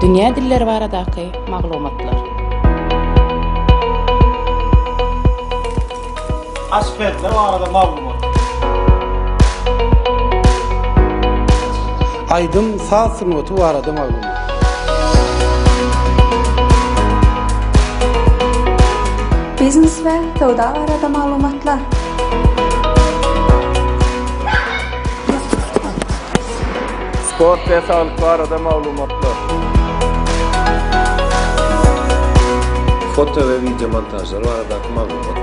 Dünýä dilleri baradaky maglumatlar. Aşpezler barada maglumat. Aýdym, saz sungaty barada maglumat. Biznes we söwda barada maglumatlar. Sport we saglyk barada maglumatlar. Foto we wideo montažlar baradaky maglumat.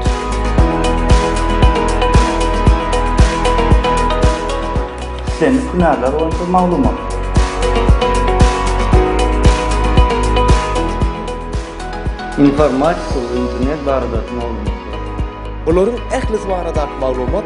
Islendik hünärler boýunça maglumat. Informatika we internet baradaky maglumatlar. Bularyň ählisi baradaky maglumat